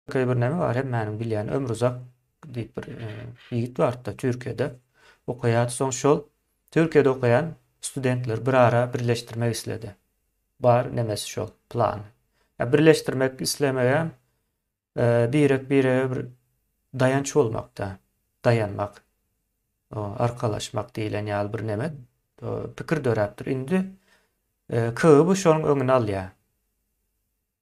Käý bir näme bar hemmäniň bilýän Ömruzak diýip bir ýigit bardy-da Türkiýede okaýardy soň şol Türkiýede okaýan studentleri bir ara birleşdirmek isledi bar nemesi şol plany ýa birleşdirmek islemegem birek birege bir daýanç bolmakda daýanmak arkalaşmak diýilen ýaly bir neme pikir döräpdir indi KGB şonuň öňüni alýar.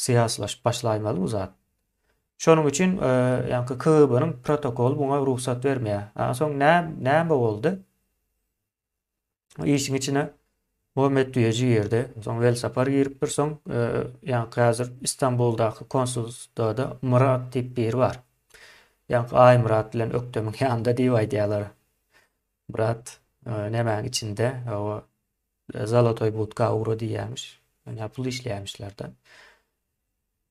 Syýasylaşyp başlaýmaly bu zat. Şonuň üçin ýaňky KGB-niň protokoly muňa rugsat bermeýär. Aňa soň näme boldy? Işiň içine Muhammet Düýeji girdi. Soň Welsapar giripdir. Soň ýaňky häzir Istanbuldaky konsulstwada Myrat diýip biri bar. Ýaňky Aýmyrat bilen Ökdemiň ýanynda diýip aýdýarlar. Myrat nemäň içinde? Hawa, Zolotoý budka ugra diýýämiş. Ýa pul işleýämişler-de.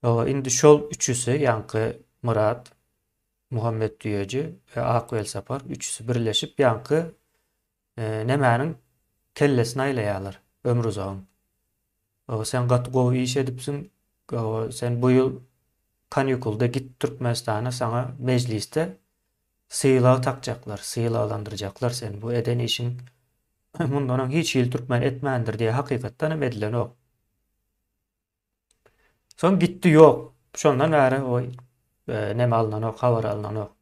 Ýa indi şol üçüsi, ýaňky Myrat, Muhammet düýeji we Ak welsapar üçüsi birleşip ýaňky nemäniň kellesini aýlaýarlar, Ömruzagyň. Ýa sen gaty gowy iş edipsiň, ýa sen bu ýyl kanýukulda git Türkmenistana saňa mejlisde Sylag takjaklar, sylaglandyrjaklar seni bu eden işiň mundan öň hiç hili türkmen etmändir diýä hakykatdan hem edilenok. Soň gitdi ýok. Şondan bäri o neme alynanok, habar alynanok.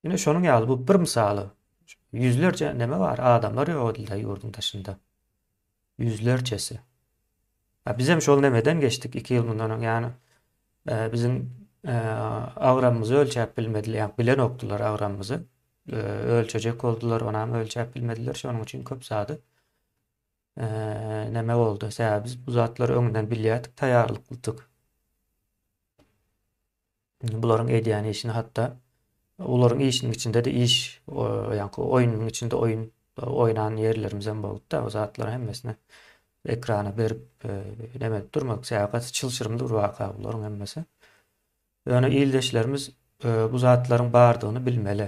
Ine şonuň ýaly bu bir mysaly. Ýüzlerçe neme bar, adamlar ýok edildi ýurduň daşynda. Ýüzlerçesi. A bizem şol nemeden geçdik iki ýyl mundan öň ýany. E, biziň e, agramymyzy ölçäp bilmediler, ýa bilenokdylar agramymyzy. E, ölçejek boldular, onam ölçäp bilmediler. Şonuň üçin köp zady e, neme boldy. Sebäbi biz bu zatlary öňünden bilýärdik, taýýarlyklydyk. Bularyň edýän işini hatda olaryň işiniň içinde-de iş, ýaňky oýnuň içinde oýun oýnan ýerlerimizem bolupdy. O zatlary hemmesini ekrana berip, näme edip durmadyk. Sebäbi gaty çylşyrymly bir waka bularyň hemmesi. Ýöne ildeşlerimiz bu zatlaryň bardygyny bilmeli.